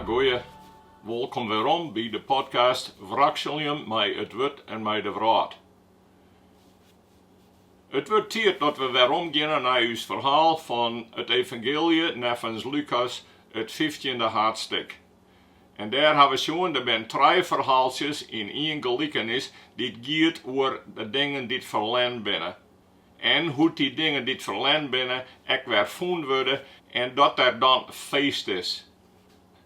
Goeie, wolkom werom by de podcast Wrakseljen mei it wurd en mei de wrâld. It wurdt tiid dat we werom geane nei ús ferhaal fan it evangeelje neffens Lukas, it fyftjinde haadstik. En dêr ha we sjoen, der binne trije ferhaaltsjes yn ien gelikenis dy't giet oer de dingen dy't ferlern binne. En hoe't dy dingen dy't ferlern binne ek wer fûn wurde en dat der dan feest is.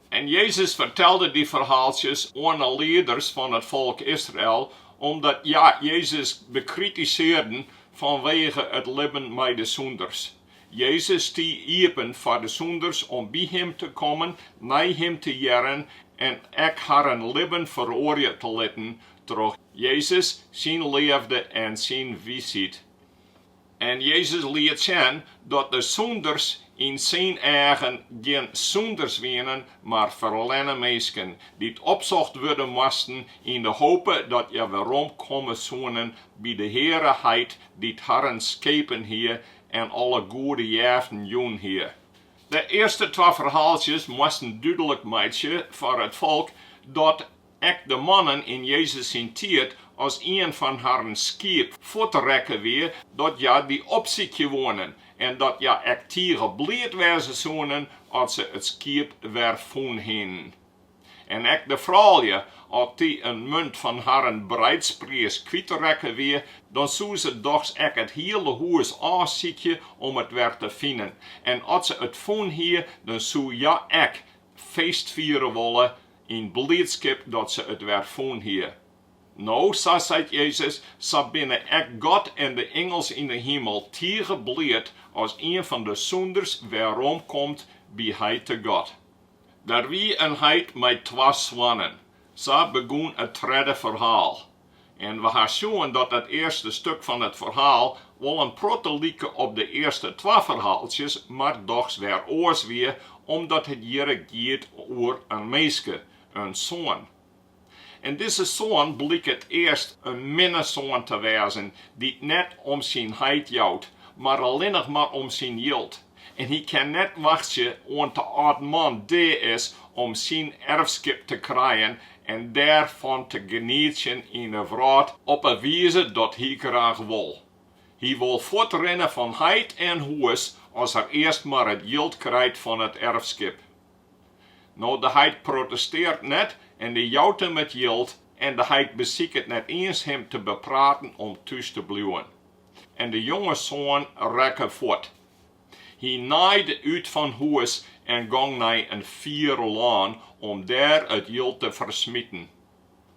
En Jezus fertelde dy ferhaaltsjes oan 'e lieders fan it folk Israel, omdat hja Jezus bekritisearden fanwege it libben mei de sûnders. Jezus stie iepen foar de sûnders om by Him te kommen, nei Him te hearren en ek harren libben feroarje te litten troch Jezus syn leafde en syn wysheid. En Jezus liet sjen dat de sûnders yn syn eagen gjin sûnders wienen, mar ferlenne minsken, dy't opsocht wurde moasten yn de hope dat hja werom komme soenen by de Heare Heit, dy't harren skepen hie en alle goede jeften jûn hie. De earste twa ferhaaltsjes moasten dúdlik meitsje foar it folk dat Ek de mannen yn Jezus syn tiid, as ien fan harren skiep fuort rekke wie, dat hja dy opsykje woenen, en dat hja ek tige bliid wêze soenen as se it skiep wer fûn hienen. En ek de froulju, as dy in munt fan harren breidspriis kwyt rekke wie, dan soe se dochs ek it hiele hûs ôfsykje om it wer te finen, en as se it fûn hie, dan soe hja ek feest fiere wolle yn bliidskip dat se it wer fûn hie. No, sa seit Jezus, sa binne ek God en de ingels yn de himel tige bliid as ien fan de sûnders weromkomt by Heite God. Der wie in heit mei twa soannen. Sa begûn it tredde ferhaal. en we ha sjoen dat dat earste stuk fan it ferhaal wol in protte like op de earste twa ferhaaltsjes, mar dochs wer oars wie, omdat it hjirre giet oer in minske, in soan. En dizze soan bliket earst in minne soan te wêzen, dy't net om syn heit jout, mar allinnich mar om syn jild. En hy kin net wachtsje oant de âld man dea is om syn erfskip te krijen en dêr fan te genietsjen yn 'e wrâld op 'e wize dat hy graach wol. Hy wol fuort rinne fan heit en hûs as er earst mar it jild krijt fan it erfskip. No de heit protestearret net en dy jout him it jild en de heit besiket net iens him te bepraten om thús te bliuwen. en de jonge soan rekke fuort. Hy naaide út fan hûs en gong nei in fier lân om dêr it jild te fersmiten.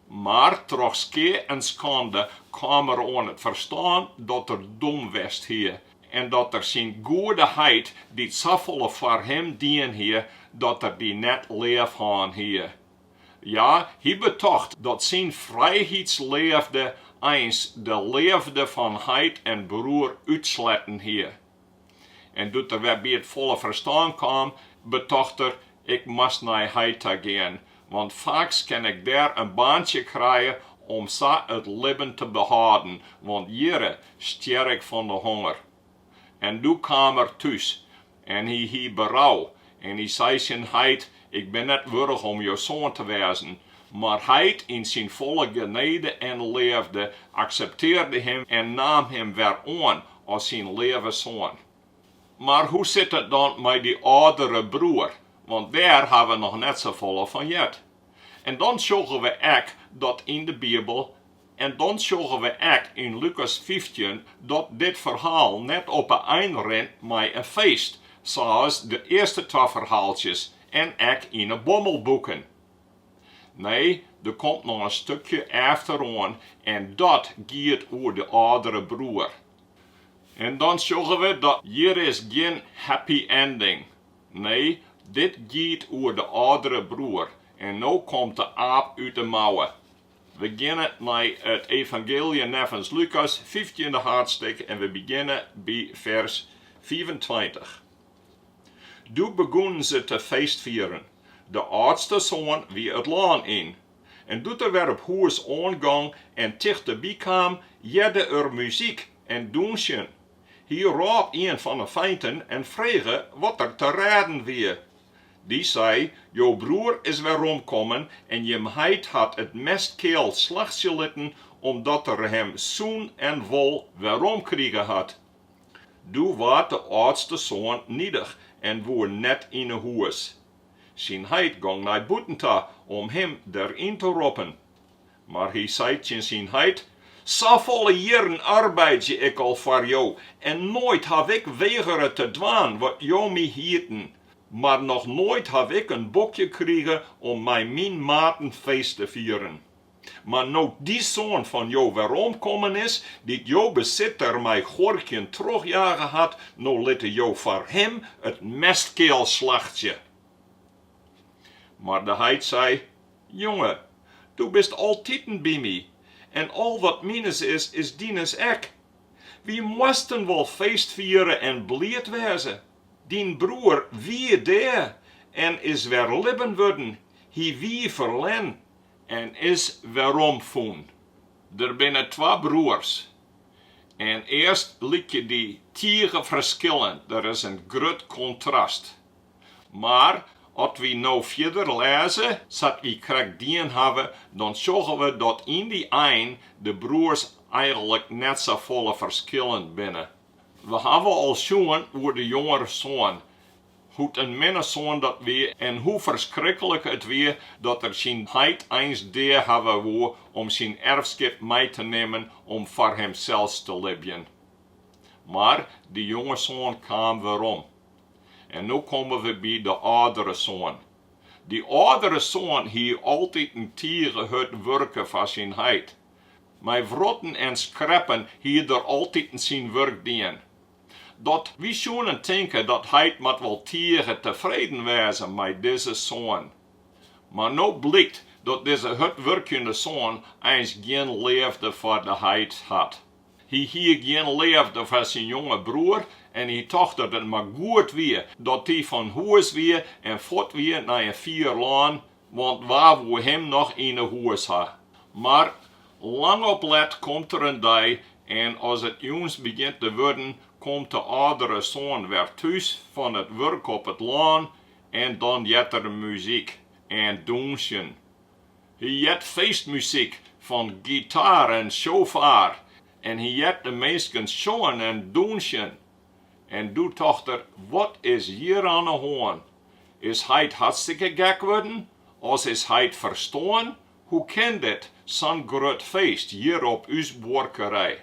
Mar troch skea en skande kaam er oan it ferstân dat er dom west hie en dat er syn goede heit, dy't safolle foar him dien hie, dat er dy net leaf hân hie. Ja, hy betocht dat syn frijheidsleafde eins de leafde fan heit en broer útsletten hie. En doe't er wer by it folle ferstân kaam, betocht er, Ik moast nei heit ta gean, want faaks kin ik dêr in baantsje krije om sa it libben te behâlden, want hjirre stjer ik fan de honger. En doe kaam er thús, En hy hie berou, en hy sei tsjin heit, Ik bin net wurdich om jo soan te wêzen. Mar heit, yn syn folle genede en leafde, akseptearde him en naam him wer oan as syn leave soan. Mar hoe sit it dan mei dy âldere broer? Want dêr ha we noch net safolle fan heard. En dan sjogge we ek dat yn de Bibel En dan sjogge we ek yn Lukas fyftjin dat dit ferhaal net op 'e ein rint mei in feest, sa's de earste twa ferhaaltsjes en ek yn 'e Bommelboeken. Nee, der komt noch in stukje efteroan en dat giet oer de âldere broer. En dan sjogge we dat hjir is gjin happy ending. Nee, dit giet oer de âldere broer en no komt de aap út 'e mouwe. We geane nei it Evangeelje neffens Lukas, fyftjinde haadsttik, en we begjinne by fers fiifentweintich. Doe begûnen se te feestfieren. De âldste soan wie it lân yn. En doe't er wer op hûs oangong en tichteby kaam, hearde er muzyk en dûnsjen. Hy rôp ien fan 'e feinten en frege wat der te rêden wie. Dy sei, Jo broer is werrom kommen en jim heit hat it mestkeal slachtsje litten, omdat er him sûn en wol werrom krige hat. Doe waard de âldste soan nidich en woe net yn 'e hûs. Syn heit gong nei bûten ta om him der yn te roppen. Mar hy sei tsjin syn heit, Safolle jierren arbeidzje ik al foar jo en noait haw ik wegere te dwaan wat jo my hieten. Mar noch noait haw ik in bokje krige om mei myn maten feest te fieren. Mar no't dy soan fan jo werrom kommen is, dy't jo besit der mei guorkjen trochjage hat, no litte jo foar him it mestkeal slachtsje. Mar de heit sei, Jonge, do bist altiten by my, en al wat mines is, is dines ek. Wy moasten wol feest fiere en bliid wêze, Dyn broer wie dea en is wer libben wurden, hy wie ferlern en is weromfûn. Der binne twa broers en earst lykje dy tige ferskillend, der is in grut kontrast. Mar at wy no fierder lêze sa't wy krekt dien hawwe, dan sjogge we dat yn dy ein de broers eigenlik net safolle ferskillend binne. We hawwe al sjoen oer de jongere soan, hoe't in minne soan dat wie en hoe ferskriklik it wie dat er syn heit eins dea hawwe woe om syn erfskip mei te nimmen om foar himsels te libjen. Mar de jonge soan kaam werom. En no komme we by de âldere soan. Dy âldere soan hie altiten tige hurd wurke foar syn heit. Mei wrotten en skreppen hie er altiten syn wurk dien. Dat wy soenen tinke dy heit moat wol tige tefreden wêze mei dizze soan. Mar no blykt dat dizze hurdwurkjende soan eins gjin leafde foar de heit hat. Hy hie gjin leafde foar syn jonge broer en hy tocht dat it mar goed wie dat dy fan hûs wie en fuort wie nei in fier lân, want wa woe him noch yn 'e hûs ha? Mar lang op let komt der in dei en as it jûns begjint te wurden, komt de âldere soan wer thús fan it wurk op it lân en dan heart er muzyk en dûnsjen. Hy heart feestmuzyk fan gitaar en sjofaar en hy heart de minsken sjongen en dûnsjen. En doe tocht er, wat is hjir oan 'e hân? Is heit hartstikke gek wurden? As is heit ferstoarn? Hoe kin dit, sa'n grut feest hjir op ús buorkerij?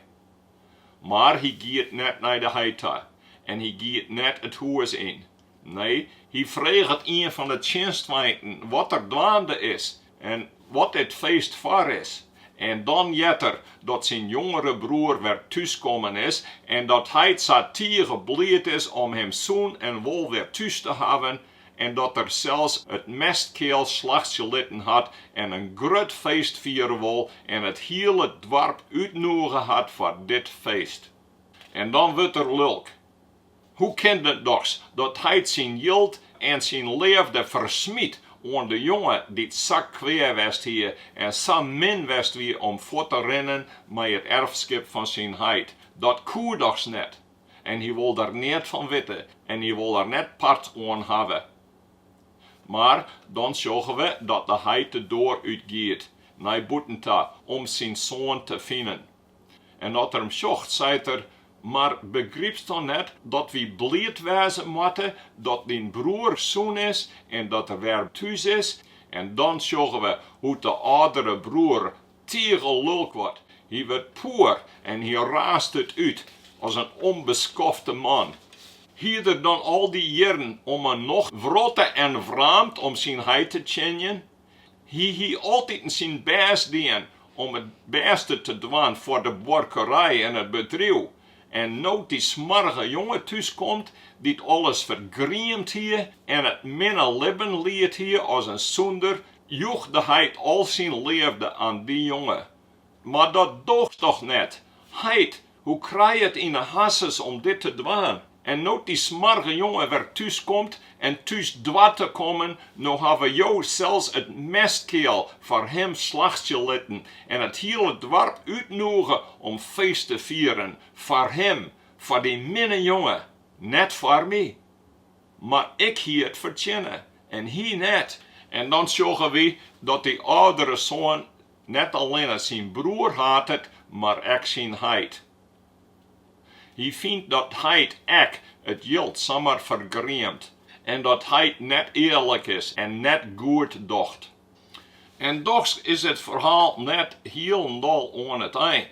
Mar hy giet net nei de heit ta en hy giet net it hûs yn. Nee, hy freget ien fan 'e tsjinstfeinten wat der dwaande is en wat dit feest foar is. En dan heart er dat syn jongere broer wer thús kommen is en dat heit sa tige bliid is om him sûn en wol wer thús te hawwen en dat er sels it mestkeal slachtsje litten hat en in grut feest fiere wol en it hiele doarp útnûge hat foar dit feest. En dan wurdt er lulk. Hoe kin it dochs dat heit syn jild en syn leafde fersmyt oan de jonge dy't sa kwea west hie en sa min west wie om fuort te rinnen mei it erfskip fan syn heit? Dat koe dochs net! En hy wol der neat fan witte en hy wol der net part oan hawwe. Mar dan sjogge we dat de heit de doar út giet, nei bûten ta, om syn soan te finen. En dat er him sjocht, seit er, Mar begrypst dan net dat wy bliid wêze moatte dat dyn broer sûn is en dat er wer thús is? En dan sjogge we hoe't de âldere broer tige lulk wurdt. Hy wurdt poer en hy raast it út, as in ûnbeskofte man. Hie er dan al dy jierren om 'e nocht wrotte en wraamd om syn heit te tsjinjen? Hy hie altiten syn bêst dien om it bêste te dwaan foar de buorkerij en it bedriuw. En no't dy smoarge jonge thús komt, dy't alles fergriemd hie en it minne libben liet hie as in sûnder, joech de heit al syn leafde aan dy jonge. Mar dat doocht dochs net, heit Hoe krije it yn 'e hasses om dit te dwaan? En no't dy smoarge jonge wer thús komt en thús doart te kommen, no hawwe jo sels it mestkeal foar him slachtsje litten en it hiele doarp útnûge om feest te fieren foar him, foar dy minne jonge, net foar my. Mar ik hie it fertsjinne en hy net. En dan sjogge wy dat dy âldere soan Net allinne syn broer hatet, mar ek syn heit. Hy fynt dat heit ek it jild samar fergriemt en dat heit net earlik is en net goed docht. En dochs is it ferhaal net hielendal oan it ein,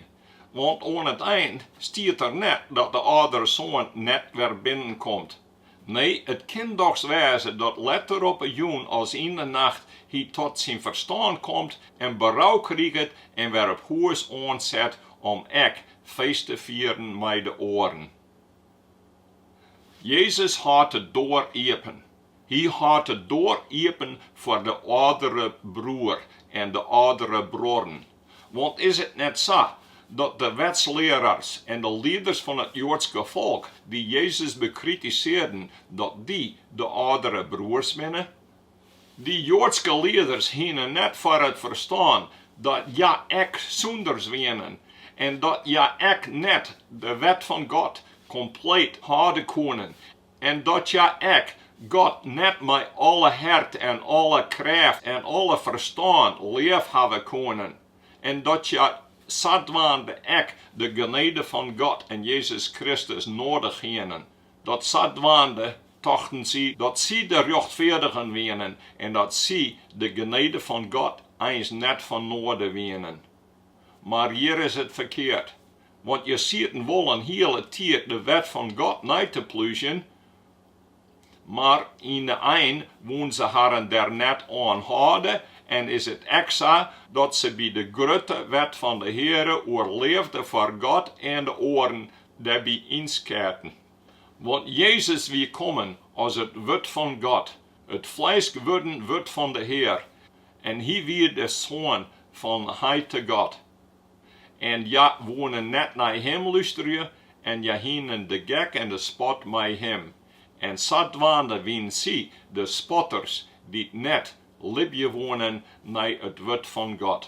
want oan it ein stiet der net dat de âldere soan net wer binnenkomt. Nee, it kin dochs wêze dat letter op 'e jûn as yn 'e nacht hy tot syn ferstân komt en berou kriget en wer op hûs oanset om ek feest te fieren mei de oaren. Jezus hâldt de doar iepen. Hy hâldt de doar iepen foar de âldere broer en de âldere bruorren. Want is it net sa dat de wetslearars en de lieders fan it Joadske folk, dy't Jezus bekritisearden, dat dy de âldere broers binne? Dy Joadske lieders hiene net foar it ferstân dat hja ek sûnders wienen en dat hja ek net de wet fan God kompleet hâlde koenen En dat hja ek God net mei alle hert en alle krêft en alle ferstân leafhawwe koenen, en dat hja sadwaande ek de genede fan God en Jezus Kristus noadich hienen, dat sadwaande tochten sy dat sy de rjochtfeardigen wienen en dat sy de genede fan God eins net fan noaden wienen. Mar hjir is it ferkeard, want hja sieten wol in hiele tiid de wet fan God nei te plúzjen, mar yn de ein woenen se harren dêr net oan hâlde en is it ek sa dat se by de grutte wet fan de Heare oer leafde foar God en de oaren dêrby ynskêten. Want Jezus wie kommen as it Wurd fan God, it flesk wurden Wurd fan de Hear, en hy wie de Soan fan Heit God. En hja woene net nei him lústerje, en hja hienen de gek en de spot mei him, en sadwaande wienen sy de spotters dy't net libje woenen nei it wurd fan God.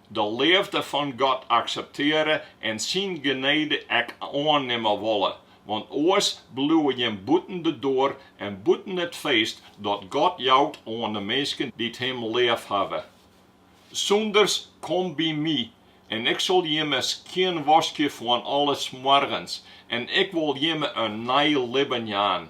de leafde fan God akseptearje en syn genede ek oannimme wolle, want oars bliuwe jim bûten de doar en bûten it feest dat God jout oan de minsken dy't Him leafhawwe. Sûnders, kom by my, en Ik sil jimme skjinwaskje fan alle smoargens en Ik wol jimme in nij libben jaan.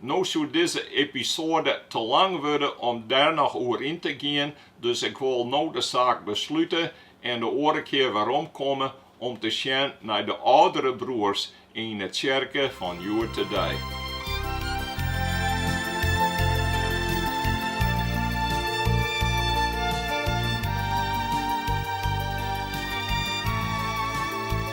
No soe dizze episoade te lang wurde om dêr noch oer yn te gean, dus ik wol no de saak beslute en de oare kear werom komme om te sjen nei de âldere broers yn 'e tsjerke fan hjoed-de-dei.